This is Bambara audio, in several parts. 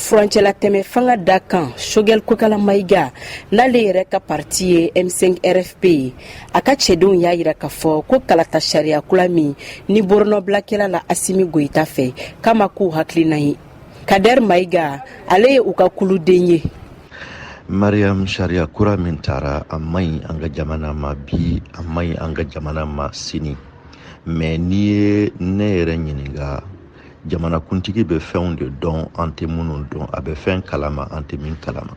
furancɛla tɛmɛ fanga dankan shogɛl kokala mayiga n'ale yɛrɛ ka parti ye m5 rfp ye a ka cɛdenw y'a yira k'a fɔ ko kalata sariya kula min ni boronɔbila kɛla la asimi goyita fɛ k'a ma k'u hakilinan ye kadɛr mayiga ale ye u ka kuluden ye mariam sariya kura min tara a man ɲi an ka jamana ma bi a man ɲi an ka jamana ma sini mais n'i ye ne yɛrɛ ɲininka jamanakuntigi bɛ fɛnw de dɔn an tɛ minnu dɔn a bɛ fɛn kalama an tɛ min kalama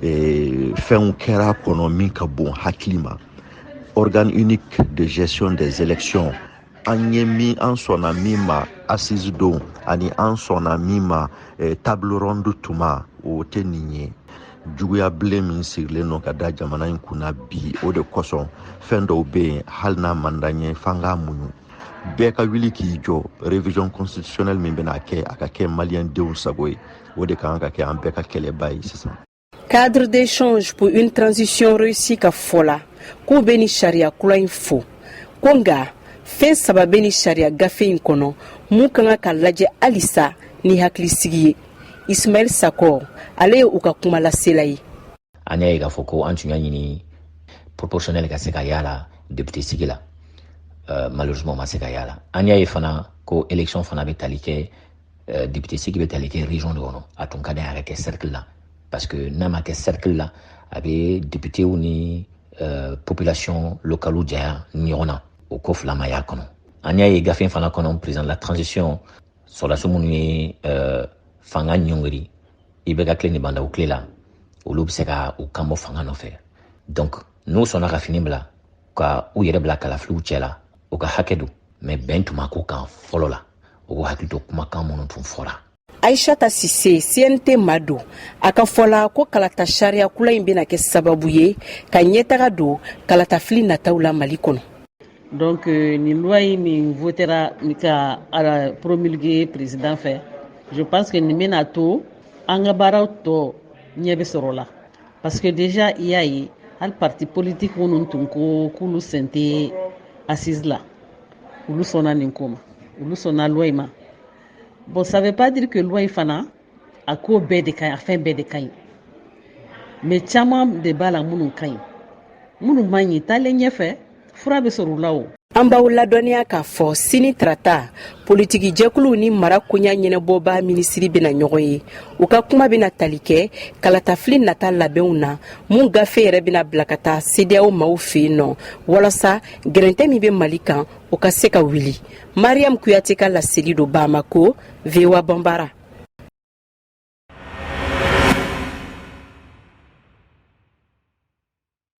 e, fɛnw kɛra kɔnɔ min ka bon hakili ma organe unique de gestion des élections an ye min an sɔnna min ma assise don ani an sɔnna min ma e, table ronde tuma o tɛ nin ye juguya bilen min sirilen don ka da jamana in kunna bi o de kosɔn fɛn dɔw bɛ yen hali n'a man d'an ye f'an k'a muɲu bɛɛ ka wuli k'i jɔ révision constitutionnelle min bɛna kɛ a ka kɛ maliyɛn denw sago ye o de kan ka kɛ an bɛɛ ka kɛlɛba ye sisan cadre d'échange pour une transition réussie ka fɔ la k'u bɛ nin sariya kura in fo ko nka fɛn saba bɛ nin sariya gafe in kɔnɔ mun ka kan ka lajɛ halisa ni hakilisigi ye ismaɛl sakɔ ale ye u ka kuma lasela ye an y'a ye k'a fɔ ko an tun y'a ɲini proportionnel ka se ka y'a la député sigi la euh, malheureusement ma se ka y'a la an y'a ye fana ko élection fana bɛ tali kɛ euh, député sigi bɛ tali kɛ région de kɔnɔ a tun ka di a ka kɛ cercle la parce que n'a ma kɛ cercle la a bɛ députéw ni euh, population locale janya ɲɔgɔn na o ko fila ma y'a kɔnɔ an y'a ye gafe fana kɔnɔ président de la transition sɔrɔdasi minnu ye fanga ɲɔngiri ibk tile ni ba ndaw tile la olu bɛ se ka u kan bɔ fanga nɔfɛ donc n'u sɔnna ka fini bila ka u yɛrɛ bila kalafiliw cɛ la u ka hakɛ don mais bɛn tun ma k'o kan fɔlɔ la u k'u hakili to kumakan minnu tun fɔra aishata sise cnt maa don a ka fɔ la ko kalata sariya kula in bɛna kɛ sababu ye ka ɲɛtaga don kalatafili nataw la mali kɔnɔ donc euh, nin loi in min votera ka a promulguer président fɛ je pense que nin bɛna to an ka baaraw tɔ ɲɛ bɛ sɔrɔ la parce que déjà i y'a ye hali parti politique minnu tun ko k'olu sen tɛ assise la olu sɔnna nin ko ma olu sɔnna loi in ma bon ça veut pas dire que loi in fana a ko bɛɛ de ka ɲi a fɛn bɛɛ de ka ɲi mais caman de b'a la minnu ka ɲi minnu man ɲi taalen ɲɛfɛ fura bɛ sɔrɔ u la o an b'aw ladɔnniya k'a fɔ sini tarata politiki jɛkuluw ni mara koɲa ɲɛnabɔba minisiri bɛna ɲɔgɔn ye u ka kuma bɛna tali kɛ kalatafili nata labɛnw na mun gafe yɛrɛ bɛna bila ka taa CEDEAO maaw fɛ yen nɔ walasa gɛrɛntɛ min bɛ mali kan o ka se ka wuli mariyamu kuyate ka laseli don bamakɔ VOA Bambara.